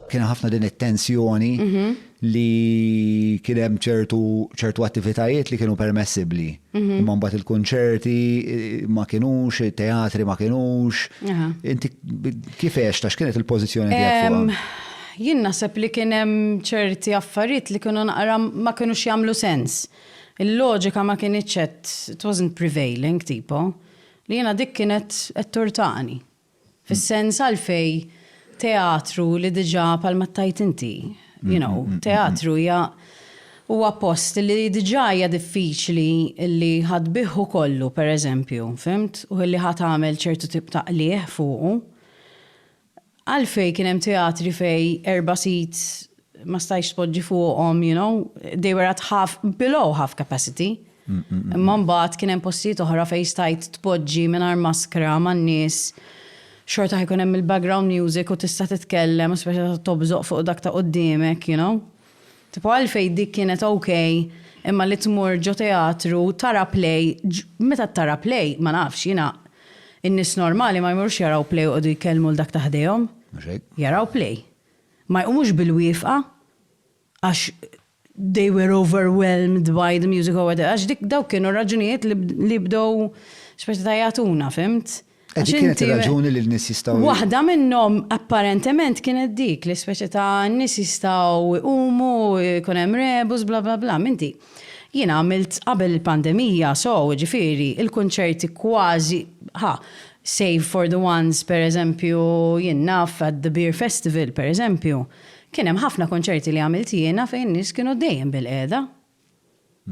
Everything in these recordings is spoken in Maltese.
kien ħafna din it-tensjoni mhm. li kien hemm ċertu ċertu attivitajiet li kienu permessibli. Mhm. Imma mbagħad il-kunċerti eh, ma kinux, teatri ma kinux. Inti kif għex tax kienet il-pożizzjoni tiegħek Jien naħseb li kien hemm ċerti affarijiet li kienu naqra ma kinux jagħmlu sens. Il-loġika ma kienitx qed it wasn't prevailing tipo li jiena dik kienet qed turtani. Fis-sens għalfejn teatru li diġà bħalma tgħid inti, you know, teatru hija huwa post li diġà hija diffiċli li ħa tbiegħhu kollu, pereżempju, fhimt, u li ħa tagħmel ċertu tip ta' qligħ fuqu. Għalfejn kien hemm teatri fejn erba' seats ma stajtx tpoġġi fuqhom you know, they were at half, below half capacity. Imma mbagħad kien hemm postijiet oħra fejn stajt tpoġġi mingħajr maskra man-nies, xorta ħajkun hemm il-background music u tista' titkellem u speċi ta' tobżoq fuq dak ta' quddiemek you know. Tipo għalfejn dik kienet ok imma li tmur ġo teatru tara play, meta tara play ma nafx jiena in-nies normali ma jmorrux jaraw play u joqogħdu jkellmu 'l dak ta' ħdejhom. Mhux hekk. Jaraw play. ma jqumux bil-wifqa għax they were overwhelmed by the music or whatever, għax dik dawk kienu r-raġunijiet li bdew xorta ta' jagħtuna, fhimt? E dik kienet ir-raġuni li n-nies jistgħu. Waħda minnhom apparentement kienet dik li speċi ta' n-nies jistgħu jqumu, jkun hemm rebus, bla bla bla, m'inti. Jiena għamilt qabel il-pandemija so jiġifieri il-kunċerti kważi ħa, save for the ones per eżempju jien naf at the Beer Festival per eżempju kien hemm ħafna kunċerti li għamilt jiena fejn in-nies kienu dejjem bilqiegħda.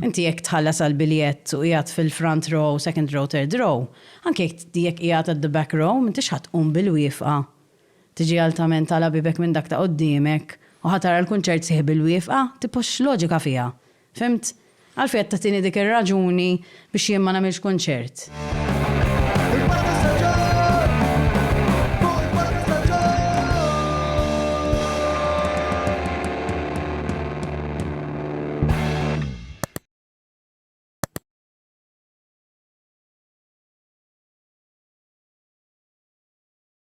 Inti jekk tħallas għall-biljett u qiegħed fil-front row, second row, third row, anke jekk qiegħed at the back row m'intix ħa tqum bilwieqfa. Tiġi altament tagħla bibek minn dak ta' quddiemek u ħa tara l-kunċert sħiħ bil-wieqfa? Tipo x'loġika fiha? Fhimt? Għalfejn qed tagħtini dik ir-raġuni biex jien ma nagħmilx kunċert?